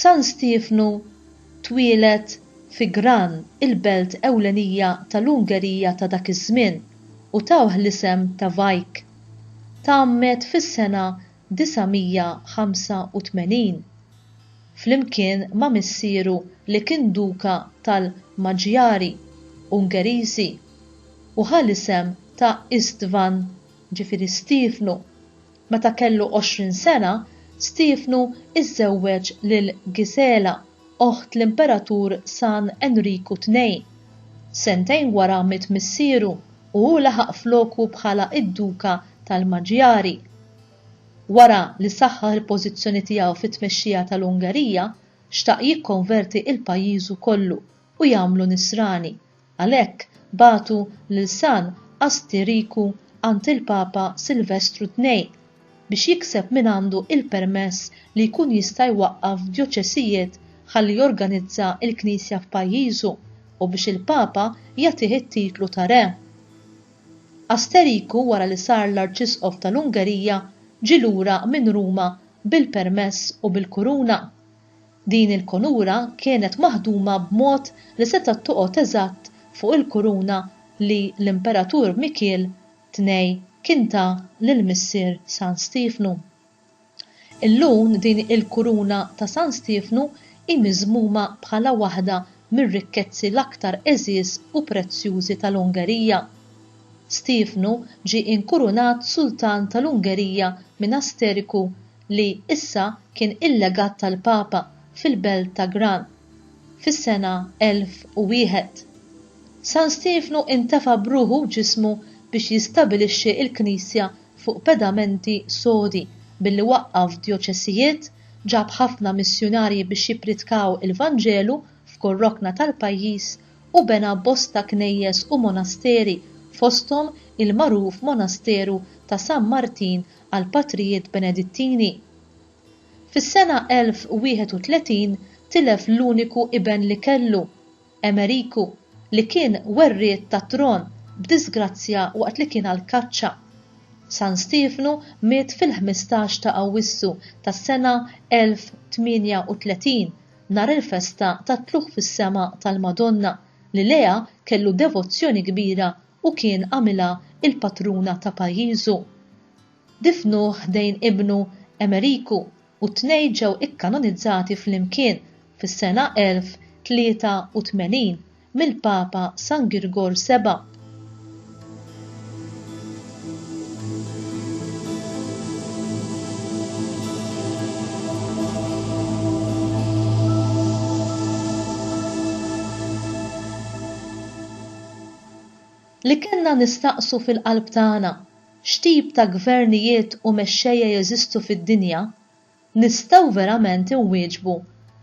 San Stiefnu twieled fi Gran, il-belt ewlenija tal-Ungerija ta' dak iż-żmien, u tawh l-isem ta' Vajk. Tgħammed fis-sena 985, flimkien ma' missieru li kien duka tal-Maġjari, Ungeriżi, u ħa l-isem ta' Istvan, ġifieri Stiefnu, Meta kellu għoxrin sena, Stiefnu żżewweġ lil Gisela, oħt l-Imperatur San Enriku Tnejn. Sentejn wara miet missieru u hu laħaq floku bħala id-Duka tal-Maġjari. Wara li saħħaħ il-pożizzjoni tiegħu fit-tmexxija tal-Ungerija, xtaq jikkonverti il-pajjiżu kollu u jagħmlu Nisrani, Għalhekk bagħtu lil San Asti Riku għand il-Papa Silvestru ii biex jikseb mingħandu il-permess li jkun jista' jwaqqaf djoċesijiet ħalli jorganizza il-Knisja f'pajjiżu u biex il-Papa jagħtih it-titlu ta' Re. Asteriku wara li sar l-Arċisqof tal-Ungerija ġie lura minn Ruma bil-permess u bil-kuruna. Din il-kunura kienet maħduma b'mod li setgħet toqgħod eżatt fuq il-kuruna li l-Imperatur Mikiel Tnej kien ta lil missier San Stiefnu. Illun din il-kuruna ta' San Stiefnu hi miżmuma bħala waħda mir-rikkezzi l-aktar għeżież u prezzjużi tal-Ungerija. Stiefnu ġie inkurunat Sultan tal-Ungerija minn Asteriku li issa kien il-legat tal-Papa fil-belt ta' Gran, fis-sena 1001. San Stiefnu intefa' b'ruħu u ġismu biex jistabilixxi l-Knisja fuq pedamenti sodi billi waqqaf djoċesijiet, ġab ħafna missjunarji biex jippritkaw il-Vanġelu f'kull rokna tal-pajjiż, u bena bosta knejjes u monasteri, fosthom il-magħruf monasteru ta' San Martin għall-Patrijiet Benedittini. Fis-sena 1031 tilef l-uniku iben li kellu, Emeriku, li kien werriet tat-tron b'diżgrazzja waqt li kien għall-kaċċa. San Stiefnu miet fil-ħmistax ta' Awwissu tas-sena 1038, nhar il-festa tat-tlugħ fis-sema tal-Madonna, li lejha kellu devozzjoni kbira u kien għamilha l-patruna ta' pajjiżu. Difnuh ħdejn ibnu Emeriku u t-tnejn ġew ikkanonizzati flimkien fis-sena 1083 mill-Papa San Girgor Seba'. Li kellna nistaqsu fil-qalb tagħna, x'tip ta' gvernijiet u mexxejja jeżistu fid-dinja, nistgħu verament inwieġbu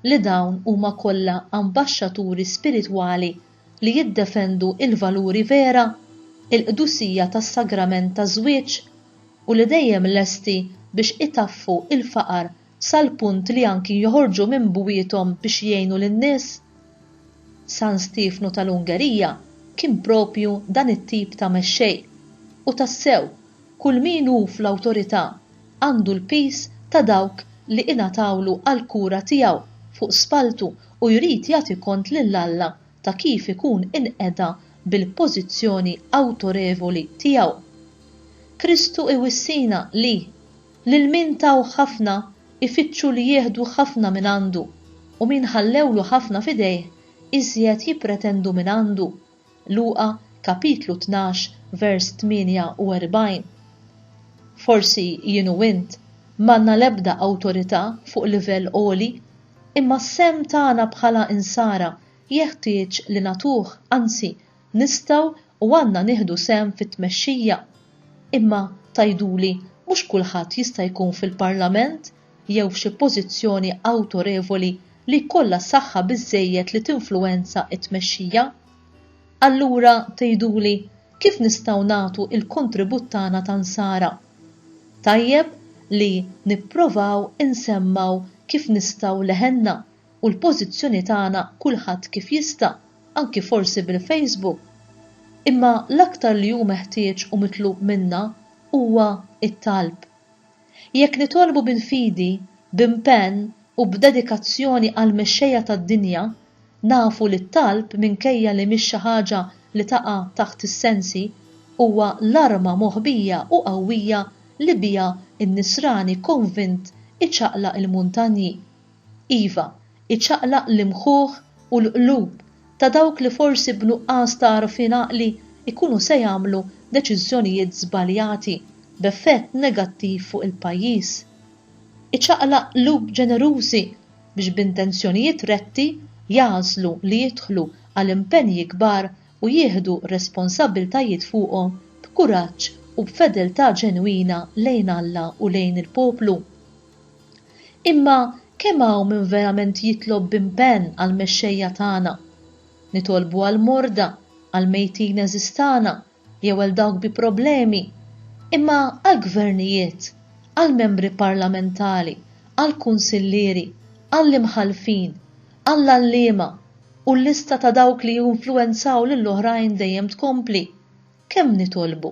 li dawn huma kollha ambaxxaturi spiritwali li jiddefendu l-valuri vera, il-qdusija tas-sagrament taż-żwieġ, u li dejjem lesti biex itaffu l-faqar sal-punt li anki joħorġu minn bwiethom biex jgħinu lin-nies? San Stiefnu tal-Ungerija kien proprju dan it-tip ta' mexxej. U tassew, kull min hu fl-awtorità għandu l-piż ta' dawk li ingħatawlu għall-kura tiegħu fuq spalltu u jrid jagħti kont lil Alla ta' kif ikun inqeda bil-pożizzjoni awtorevoli tiegħu. Kristu iwissina li, Lil min taw ħafna, ifittxu li jieħdu ħafna mingħandu, u min ħallewlu ħafna f'idejh, iżjed jippretendu mingħandu. Luqa kapitlu tnax vers 48. Forsi jien u int m'għandna l-ebda awtorità fuq livell għoli, imma s-sehem tagħna bħala Insara jeħtieġ li nagħtuh, anzi Nistgħu u għandna nieħdu sehem fit-tmexxija. Imma, tgħiduli, mhux kulħadd jista' jkun fil-Parlament jew f'xi pożizzjoni awtorevoli li jkollha saħħa biżżejjed li tinfluwenza t-tmexxija. Allura, tgħiduli, kif nistgħu nagħtu l-kontribut tagħna ta' nsara? Tajjeb li nipprovaw insemmgħu kif nistgħu leħenna u l-pożizzjoni tagħna kulħadd kif jista', anki forsi bil-Facebook. Imma l-aktar li hu meħtieġ u mitlub minna huwa t-talb. Jekk nitolbu bil-fidi, b'impenn u b'dedikazzjoni għall-mexxejja tad-dinja, nafu li t-talb minkejja li mhix xi ħaġa li taqa' taħt is-sensi, huwa l-arma moħbija u qawwija li biha n-nisrani konvint iċaqlaq il-muntanji. Iva, iċaqlaq l-imħuħ u l-qlub ta' dawk li forsi b'nuqqas ta' għarfien għaqli jkunu se jagħmlu deċiżjonijiet żbaljati b'effett negattiv fuq il-pajjiż. Iċaqlaq qlub ġenerużi biex b'intenzjonijiet retti jagħżlu li jidħlu għal impenji kbar u jieħdu responsabbiltajiet fuqhom b'kuraġġ u b'fedeltà ġenwina lejn Alla u lejn il-poplu. Imma kemm hawn min verament jitlob b'impenn għall-mexxejja tagħna? Nitolbu għall-morda, għall-mejtin għeżież tagħna, jew għal dawk bi problemi. Imma għall-gvernijiet, għall-membri parlamentari, għall-kunsillieri, għall-imħallfin, għall-għalliema, u l-lista ta' dawk li jinfluwenzaw lill-oħrajn dejjem tkompli, kemm nitolbu?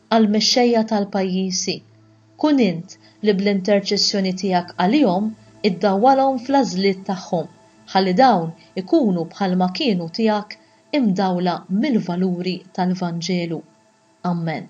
għall-mexxejja tal-pajjiżi, kun int li bl-interċessjoni tiegħek għalihom iddawwalhom fl-għażliet tagħhom, ħalli dawn ikunu bħalma kienu tiegħek imdawla mill-valuri tal-Vanġelu. Ammen.